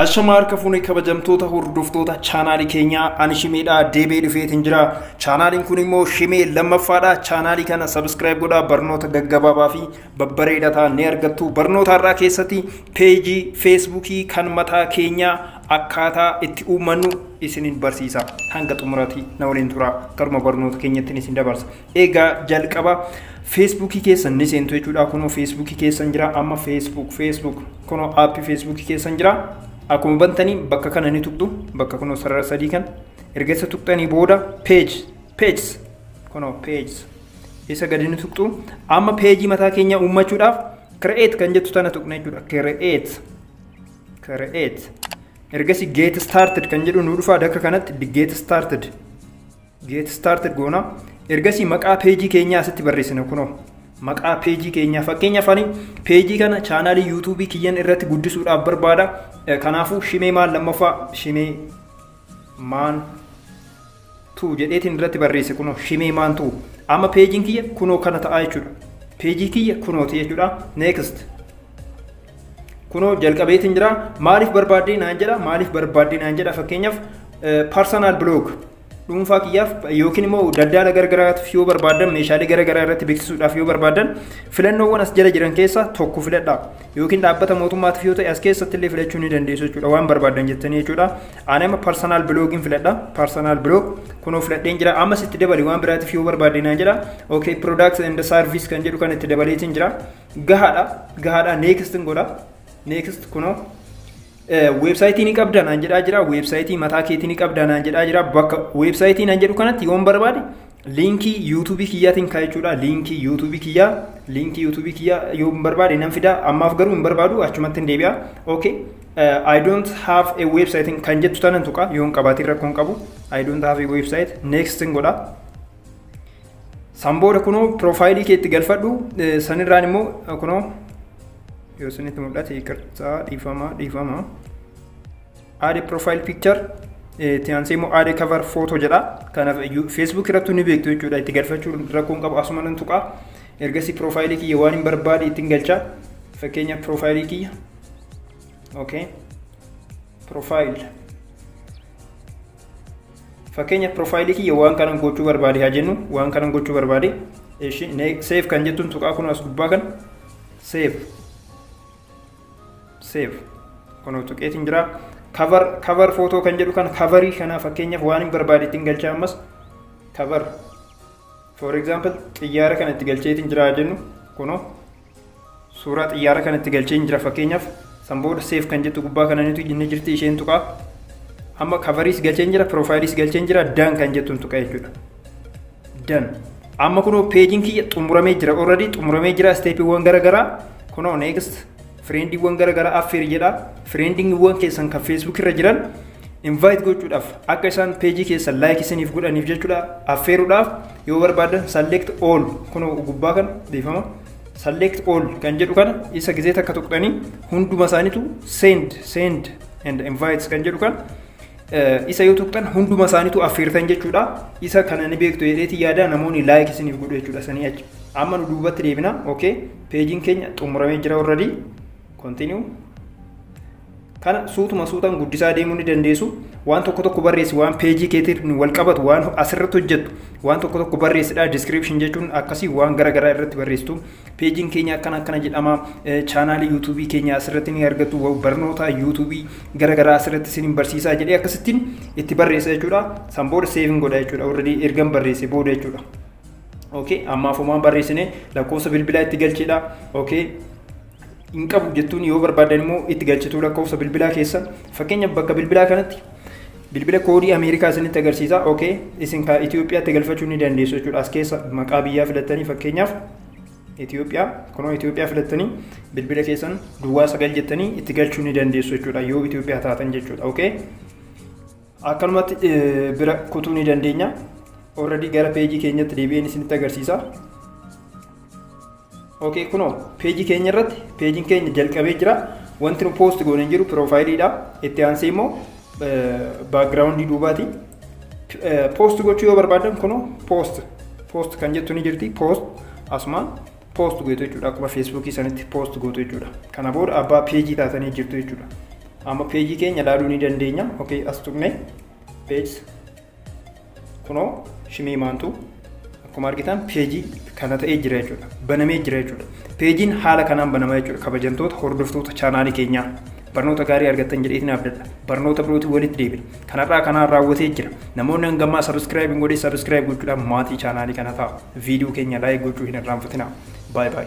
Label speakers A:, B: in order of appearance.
A: Ashama harka fuune kabajamtoota hordoftoota chaanaalii keenyaa ani shimeedha deebee dhufeetiin jira. Chaanaaliin kun immoo shimee lammaffaadha. Chaanaalii kana sabiskiraayib godhaa barnoota gaggabaabaa fi babbareeda ta'an ni argattu. Barnoota har'aa keessatti peejii feesbuukii kan mataa keenyaa akkaataa itti uummannu isinin barsiisa. Hanga xumuraati na waliin tura. Garuma barnoota keenyattiin isin dabarsa. Egaa jalqaba feesbuukii keessan ni seentu jechuudha. Kunoo feesbuukii keessan jira amma feesbuuk feesbuuk kunoo aappii feesbuukii keessan jira. Akkuma bantanii bakka kana ni tuqxu bakka kunoo sarara sadii kan erga isa tuqxanii booda peeji peejis kunoo peejis isa gadi ni tuqxu amma peejii mataa keenya uummachuudhaaf kire'eet kan jettu tana tuqna jechuudha kire'eet kire'eet ergasii geet staartid kan jedhu nu dhufa dakka kanatti geet staartid Get started goona. Ergasii maqaa peejii keenyaa asitti barreessina kunoo. Maqaa peejii keenyaa fakkeenyaaf ani peejii kana chaanaalii yuutuubii kiyyan irratti guddisuudhaaf barbaada. Eh, Kanaafuu shimee maan lammaffaa shimee maan tuu jedheetiin irratti barreesse kunoo shimee maan tuu. Amma peejiin kiyya kunoo kana ta'aa jechuudha. Peejii kiyya kunooti jechuudha. Next. kunoo jalqabeetiin jira maaliif barbaaddee naan jedha maaliif barbaaddee naan jedha fakkeenyaaf personal blog dhuunfaa kiyyaaf yookiin immoo daldala gargaraatiif yoo barbaadan meeshaalee garagaraa irratti beeksisuudhaaf yoo barbaadan filannoowwan as jala jiran keessaa tokko filadha yookiin dhaabbata mootummaatiif yoo ta'e as keessatti illee filachuu ni dandeessu jechuudha waan barbaadan jettanii jechuudha ani amma parsonaal biloogiin filadha parsonaal biloog kunoo filadheen jira ammas itti dabali waan biraatiif yoo barbaade naan jedha okay products and service kan jedhu kan itti dabaleetiin jira gahaadha gahaadha next godha next kunoo Weebsaayitii ni qabda naan jedhaa jira. Weebsaayitii mataa keetii ni qabda naan jedhaa jira. Bakka weebsaayitii naan jedhu kanatti yoon barbaade liinkii yuutuubii kiyyaatiin kaa jechuudha. Liinkii yuutuubii kiyyaa liinkii yuutuubii kiyyaa yoon barbaade nan fida. Ammaaf garuu hin barbaadu achumatti hin deebi'a. Okay. Uh, I don't have a website kan jettu tanan tuqa yoon qabaatiin rakkoon qabu. I don't have a website. Next hin godha. San booda kunoo piroofaayilii keetti galfadhu sanirraan immoo kunoo yoo isinitti mul'ate iqirtaa dhiifama dhiifama aade profile picture itti aansee immoo aade cover photo jedha kanaaf facebook irratti ni beektu jechuudha itti galfachuu rakkoon qabu asuma nan tuqaa ergasii profaayilii kiyya waan hin barbaade ittiin galcha fakkeenya profaayilii kiyya okay profile Fakkeenya piroofaayilii kiyya waan kanan gochuu barbaade haa jennu waan kanan gochuu barbaade seef kan jettuun tuqaa kun as gubbaa kan seef seef kunoo tuqeetiin jira kavar kavar footoo kan jedhu kan kavarii kanaa fakkeenyaaf waan hin barbaade ittiin galchaa ammas kavar for example xiyyaara kana itti galcheetiin jira haa jennu kunoo suuraa xiyyaara kanatti galcheen jira fakkeenyaaf san booda seef kan jettu gubbaa kana ni jirti isheen tuqaa amma kavariis galcheen jira piroofaayiliis galcheen jira dan kan jettuun tuqa jechuudha dan amma kunoo peejiin kiyya xumuramee jira already xumuramee jira isteepiiwwan garaagaraa kunoo next fireendiiwwan garaagaraa affeer jedha fireendiiwwan keessan kan feesbuuk irra jiran invite gochuudhaaf akka isaan peejii keessan laayik isiniif godhaniif jechuudha affeeruudhaaf Yoo barbaadan select all kunoo gubbaa kan dhiifama select all kan jedhu kana isa gizee takka tuqxanii hunduma isaaniitu send send and invites kan jedhu kan isa yoo tuqxan hunduma isaaniitu affeertan jechuudha. Isa kana ni beektu jedheeti yaada namoonni laayik isiniif godhu jechuudha sanii achi. Amma nu duubatti deebina. Okay. Peejiin keenya xumuramee jira already. Continue. Kana suutuma suutaan guddisaa deemuu ni dandeessu. Waan tokko tokko barreessi, waan peejii keetiin wal qabatu, waan asirratti hojjettu, waan tokko tokko barreessidha. Description jechuun akkasii waan gara garaa irratti barreessitu. Peejiin keenya akkana akkana jedhama. Chaanaalii yuutuubii keenya asirratti ni argattu. Barnoota yuutuubii gara garaa asirratti isin barsiisaa jedhee akkasittiin itti barreessa jechuudha. San booda seeviin godha jechuudha. Warradii ergan barreesse booda jechuudha. Okay, ammaaf homaan barreessine lakkoofsa bilbilaa itti galchidha. Okay, hin qabu jettuun yoo barbaadan immoo itti galchituu lakkoofsa bilbilaa keessa fakkeenya bakka bilbilaa kanatti bilbila koodii Ameerikaa isinitti agarsiisa ok isin kaa Itoophiyaatti galfachuu ni dandeessu jechuudha as keessa maqaa biyyaa filattanii fakkeenyaaf Itoophiyaa kunoo Itoophiyaa filattanii bilbila keessan duwwaa sagal jettanii itti galchuu ni dandeessu jechuudha yoo Itoophiyaa taatan jechuudha ok. Akkanumatti bira kutuu ni dandeenya. Already gara peejii keenyatti deebi'een isinitti agarsiisa. Ok kunoo peejii keenya irratti peejiin keenya jalqabee jira. Wanti nu poost goone hin jiru piroofaayiliidha. Itti aansee immoo baakgiraawundii duubaati. Poost gochuu yoo barbaadan kunoo poost poost kan jettu ni jirti poost asumaan poost gootu jechuudha akkuma feesbuukii sanitti poost gootu jechuudha. Kana booda abbaa peejii taatanii jirtu jechuudha. Amma peejii keenya ilaaluu ni dandeenya. Ok as tuqne peejs kunoo shimii maantu akkuma argitan peejii kana ta'ee jira jechuudha. Banamee jira jechuudha. Peejiin haala kanaan banama jechuudha. Kabajamtoota hordoftoota chaanaalii keenyaa. barnoota gaarii argattan jedheetiin abdadha. Barnoota birootiin walitti deebina. Kanarraa kanaan raawwatee jira. Namoonni hangammaa sabiskiraayib hin godhin sabiskiraayib gochuudhaan maatii chaanaalii kana ta'a. Viidiyoo keenya laayik gochuu hin irraanfatina. Baay baay.